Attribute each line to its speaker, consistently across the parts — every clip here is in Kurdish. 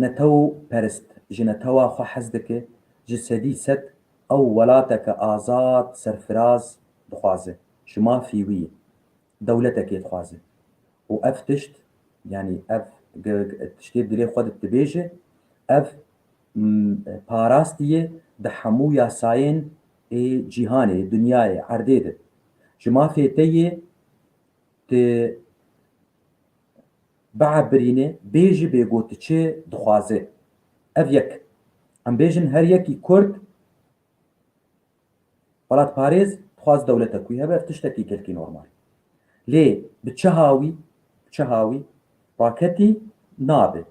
Speaker 1: Netew perist ji netewa xwe hez dike, ji sedî sed ew welateke azad, serfiraz dixwaze, ji mafî wî dewletekê dixwaze û ev tişt yanî ev tiştê dilê xwe di dibêje, ev parastî ye di hemû yasayên ê cîhanê, ê dinyayê, erdê de. Ji mafê te yê tu Beha birînê bê jî bê got çê dixwazê. Ev yek. Em bêjin her yekî kurd welatparêz dixwaz dewlete ku hebe ev tiştekî kelkî normal. Lê bi çiha wî, bi çiha wî raketî nabe.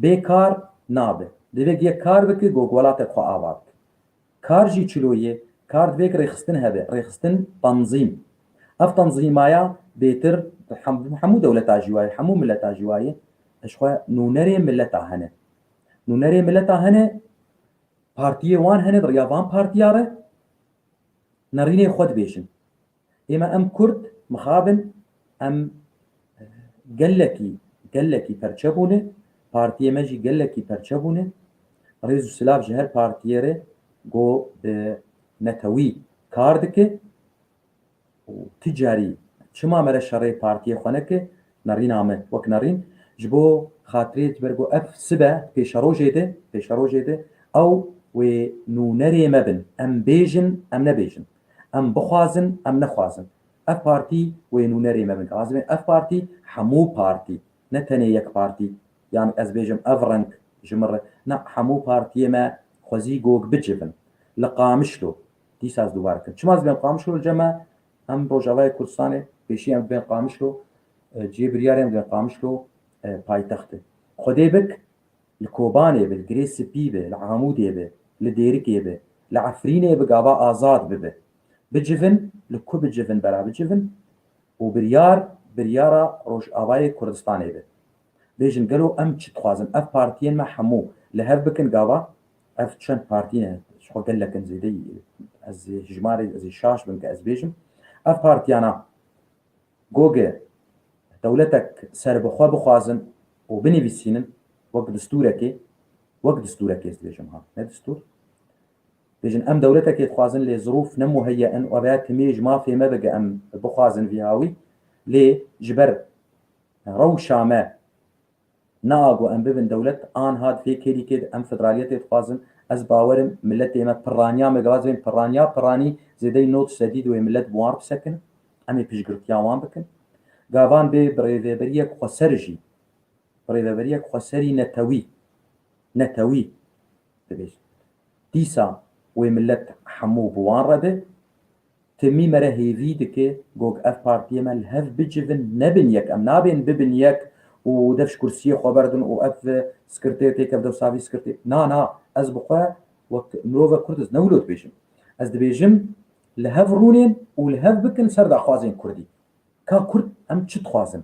Speaker 1: Bê kar nabe. Divê yek kar bike ku welatek xwe ava bike. Kar jî çilo ye, kar divêk rêxistin hebe, rêxistin, tenzîm. Ev tenzîmaya bêtir bi hemû dewleta jî wayê, hemû mileta jî wayê. Ji xwe nûnerê mileta hene. Nûnerê mileta hene, partiyê wan hene di riya van partiya re nerînê xwe dibêjin. Êma em kurd mixabin em gelekî gelekî perçe bûne, partiyê me jî gelekî perçe bûne. Rêz û silav ji her partiyê re go bi netewî kar dike û ti carî çima mere şerê partiyê xwe neke nerîna me wek nerîn ji bo xatirê ji ber ku ev sibe pêşerojê de pêşerojê de ew wê nûnerê me bin em bêjin em nebêjin Em bixwazin em nexwazin ev partî wê nûnerê me bin. Razê bin ev partî hemû partî ne tenê yek partî yan ez bêjim ev reng ji min re na hemû partiyê me xwezî gog bicivin li Qamişlo dîsa ez dûbare dikim çima ez bên Qamişlo li cem me em Rojavayê Kurdistanê pêşî em dibên Qamişlo cihê biryarê em dibên Qamişlo paytextê xwedê bik Li Kobanê bi, li Girê Spî bi, li Amûdê bi, li Dêrikê bi, li Efrînê bi gava azad bibe. Bicivin li ku bicivin bela bicivin û biryar biryara Rojavayê Kurdistanê be. Bêjin gelo em çi dixwazin? Ev partiyên me hemû li hev bikin gava ev çend partî ne ji xwe gelek in zêdeyî ez ê hijmarê ez ê şaş bim ke ez bêjim ev partiyana Goge dewletek serbixwe bixwazin û binivîsînin wek distûrekê, wek distûrekê ez dibêjim ha, ne distûr, dibêjin em dewletekê dixwazin lê zirûf ne muheyye in, webe ya timî ji mafê me be ge em bixwazin vî hawî lê ji ber rewşa me, Niha ku em bibin dewlet, anha di vê kêlîkê de em federaliyetê dixwazin. Ez bawer im miletê me pirraniya me gilas bên pirraniya pirranî zêdeyî nod sedî di wê milet bi wan re bisekin. Em ê piştgirtiya wan bikin. Gavan bê bi rêveberiyek xweser jî, bi rêveberiyek xweserî netewî, netewî dibêjin. Dîsa wê milet hemû bi wan re be. Timî me re hêvî dike gog ev partiyê me li hev bicivin nebin yek. Em nabên bibin yek û dev ji kursiyê xwe berdin û ev skirtê têkeve dew savî skirtê. Na na ez bi xwe wek mirovek kurd ez ne wilo dibêjim. Ez dibêjim li hev rûnên û li hev bikin ser daxwazên kurdî. Ka kurd em çi dixwazin?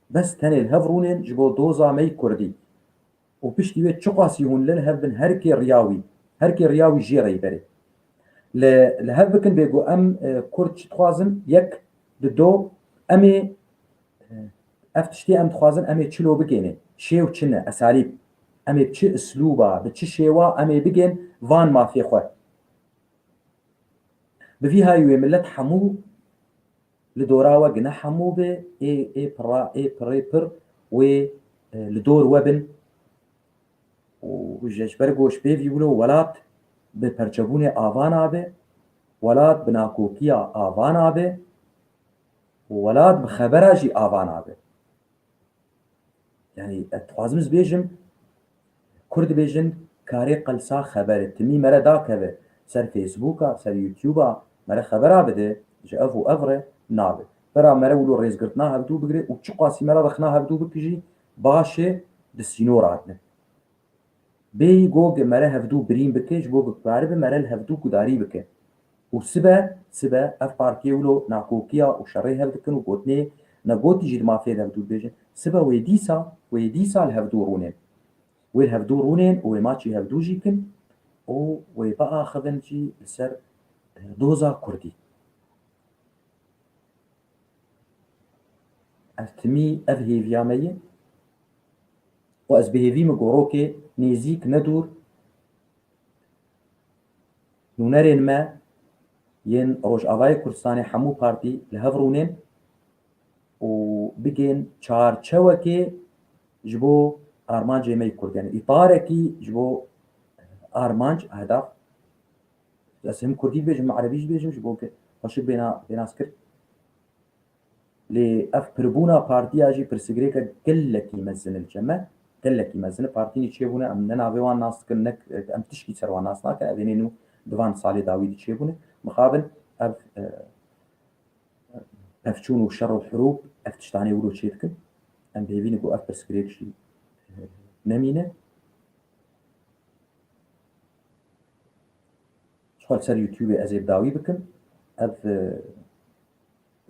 Speaker 1: Bes tenê li hev rûnên ji bo doza me yî kurdî û piştî wê çiqasî hûn li hev bin her kê riya wî, her kê riya wî jê re yî berê. Li li hev bikin bê ku em kurd çi dixwazin, yek, di do, em ê ev tiştê em dixwazin em ê çilo bigênê, şêw çi ne, esalîb, em ê bi çi islûba, bi çi şêwa em ê bigên van mafê xwe. Bi vî hayî wê milet hemû. Li dora we gine hemû be ê ê pira ê pirê pir wê li dor we bin û ji ji ber ku ji pêvî wilo welat bi perçebûnê ava nabe, welat bi nakokiya ava nabe û welat bi xebera jî ava nabe. Yani ez dixwazim ez bêjim Kurd bêjin karê qelsa xeberi timî mere dakeve ser Facebooka, ser YouTuba mere xebera bide ji ev û ev re nabe. Vera mere wilo rêzgirtina hevdû bigire û çiqasî mere rexna hevdû bikijî baş e di sînor hatine. Bêyî got ge mere hevdu birîn bike ji bo biparêbe mere li hevdu gudarî bike û sibe sibe ev partiyê wilo nakokiya û şerê hev dikin û gotinê ne gotî jî dima fêr hevdu dibêjin sibe wê dîsa wê dîsa li hevdu rûnên wê li hevdu rûnên û wê maçî hevdu jî kin û wê biaxivin jî li ser doza kurdî. Ev timî ev hêviya me ye. Xwe ez bi hêvî min gorokê nêzîk ne dûr nûnerên me yên Rojavayê Kurdistanê hemû partî li hev rûnên û bigên çarçewekê ji bo armancê me yê Kurd yanî îtarekî ji bo armanc hedaf ez him Kurdî dibêjim him Erebî jî dibêjim ji bo xweşik bêna pênaskir. Lê ev pirbûna partiya jî pirsgirêke gelekî mezin li cem e. Gelekî mezin e. Partînî çêbûne em ne navê wan nas dikin ne em tiştî ser wan nas nakin. Evê nê nû di van salê dawî de çêbûne. Mixabin ev pevçûn û şer û hirûb ev tiştanê wilo çê dikin. Em bêvî ne ku ev pirsgirêk jî nemîne. Ji xwe li ser Youtubê ez ê bi dawî bikim. Ev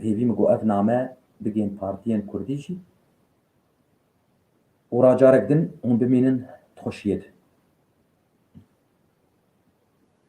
Speaker 1: Hêvî min got ev name bigihîn partiyên kurdî jî û ra carek din hûn bimînin di xweşiyê de.